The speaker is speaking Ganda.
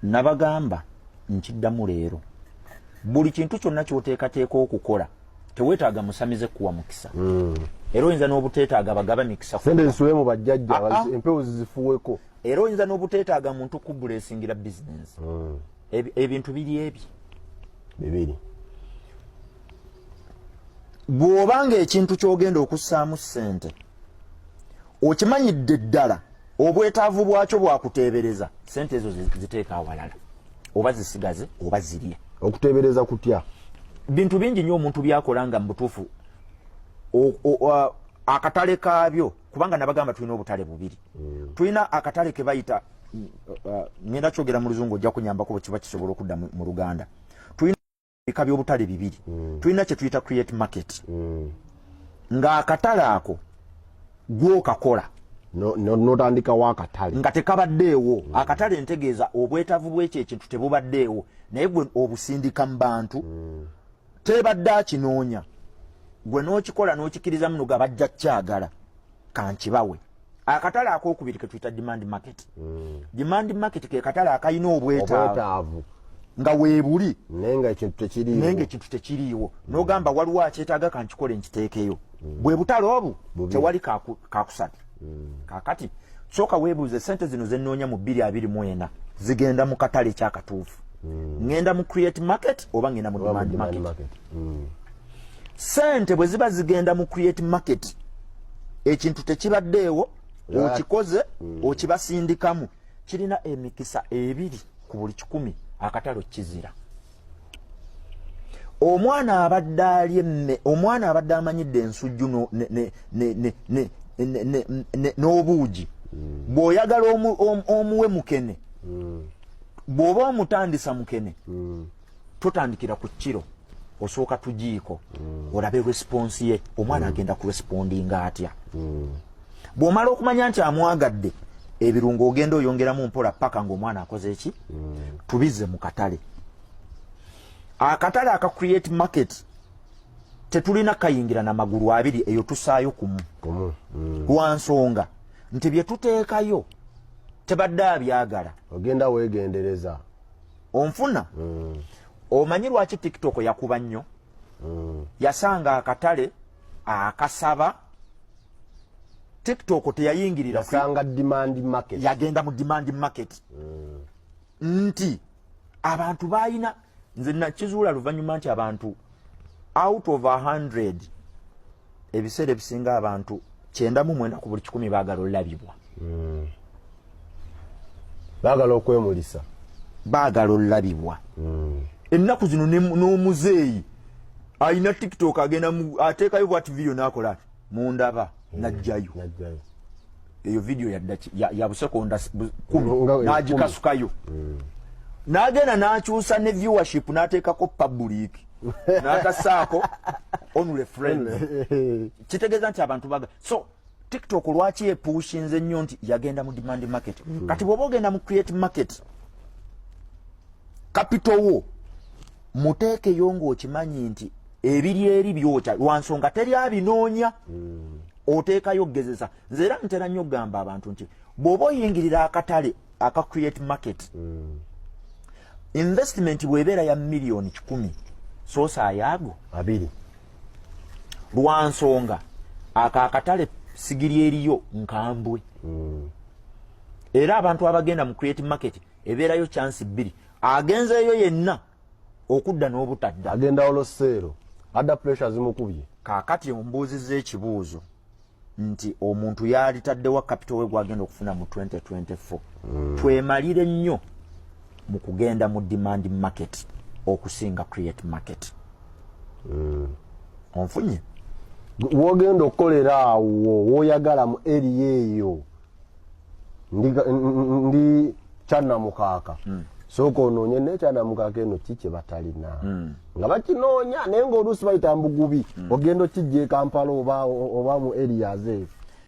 nabagamba nkiddamu leero buli kintu kyonna kyoteekateeka okukola teweetaaga musamize kuwa mukisa hmm. era oyinza n'obuteetaaga bagaba mikisa sente zisuule mu bajjajja ah, ah. empewo zizifuweko era oyinza n'obuteetaaga muntu kubula esingira bizinensi hmm. ebintu biri ebye bibiri bw'oba ng'ekintu ky'ogenda okussaamu ssente okimanyidde ddala obwetaavu bwakyo bwakuteebereza sente ezo ziteeka awalala oba zisigaze oba zirye okuteebereza kutya bintu bingi nnyo omuntu byakola nga mubutuufu akatale kaabyo kubanga nabagamba tulina obutale bubiri mm. tulina akatale kebayita ngenda kyogera mu luzungu ojja kunyambakubo kiba kisobola okudda mu luganda bika by'obutale bibiri mm. tulina kye tuyita create market mm. ng'akatale ako gwokakola notandikawo akatale nga tekabaddeewo mm. akatale ntegeeza obwetavu bwekyo ekintu tebubaddeewo naye gwe obusindika mu bantu mm. tebadde akinoonya gwe n'okikola n'okikiriza muno ga bajja kyagala kankibawe akatale akokubiri ketuyita demand market mm. demand market ke katale akalina obwetaavu nga weebuli naye nga ekintu tekiriiwo naye nga ekintu tekiriiwo mm. n'ogamba waliwo akyetaaga kankikole nkiteekeyo mm. bwe butale obu tewali kakusatu mm. kakati sooka weebuuze sente zino ze nnoonya mu bbiri abiri mu ena zigenda mu katale ekyakatuufu mm. ŋŋenda mu create market oba ŋŋenda mu demand market, market. mm. sente bwe ziba zigenda mu create market ekintu tekibaddeewo okikoze mm. okibasindikamu kirina emikisa ebiri ku buli kikumi akatalo kizira omwana abadde ali emme omwana abadde amanyidde ensujju n'obuugi mm. bw'oyagala omuwe mukene mm. bw'oba omutandisa mukene tutandikira ku kiro osooka tugiiko mm. olabe response ye omwana mm. agenda ku respondinga atya mm. bw'omala okumanya nti amwagadde ebirungo ogenda oyongeramu mpola paka ng'omwana akoze eki mm. tubize mu katale akatale aka create market tetulina kayingira na magulu abiri eyo tusaayo kumu mm. lwa nsonga nti bye tuteekayo tebadde abyagala ogenda weegendereza onfuna mm. omanyi lwaki tiktok yakuba nnyo mm. yasanga akatale akasaba tiktok teyayingirira yagenda mu demand market mm. nti abantu balina nze nakizuula luvannyuma nti abantu out of 100 ebiseera ebisinga abantu kyenda mu mwenda ku buli kikumi baagala olulabibwa hmm. baagala okwemulisa baagala olulabibwa hmm. ennaku zino n'omuzeeyi alina tiktok agenda ateekayo bwati vidiyo n'akola mundaba hmm. najjayo eyo vidiyo yabusekonda nagikasukayo hmm. nagenda nakyusa ne viewership nateekako public natasaako only friend kitegeeza nti abantu baga so tiktok lwaki epushinze nnyo nti yagenda mu demand market hmm. kati bwoba ogenda mu create market capital wo muteekeyo ng'okimanyi nti ebiri eri byokya lwansonga teri abinoonya mm. oteekayo okugezesa nze era ntera nnyo okugamba abantu nti bw'oba oyingirira akatale aka create market mm. investment bw'ebeera ya miliyoni kikumi soosa ayaago abiri lwansonga ako akatale sigiri eriyo nkambwe mm. era abantu abagenda mu create market ebeerayo chansi bbiri agenzeeyo yenna okudda n'obutadda agenda oloseero adda puresure zimukubye kaakati ombuuziza ekibuuzo nti omuntu yalitaddewa kapito we gwagenda okufuna mu 2024 mm. twemalire nnyo mu kugenda mu demand market okusinga create market mm. onfunye wogenda okukolera awo woyagala mu eri eyo ndi kyanamukaaka hmm. sooka onoonye naye kyanamukaaka eno ki kye batalina hmm. nga bakinoonya naye ngaoluusi bayita mbugubi hmm. ogenda okijja ekampala oba mu erias eyo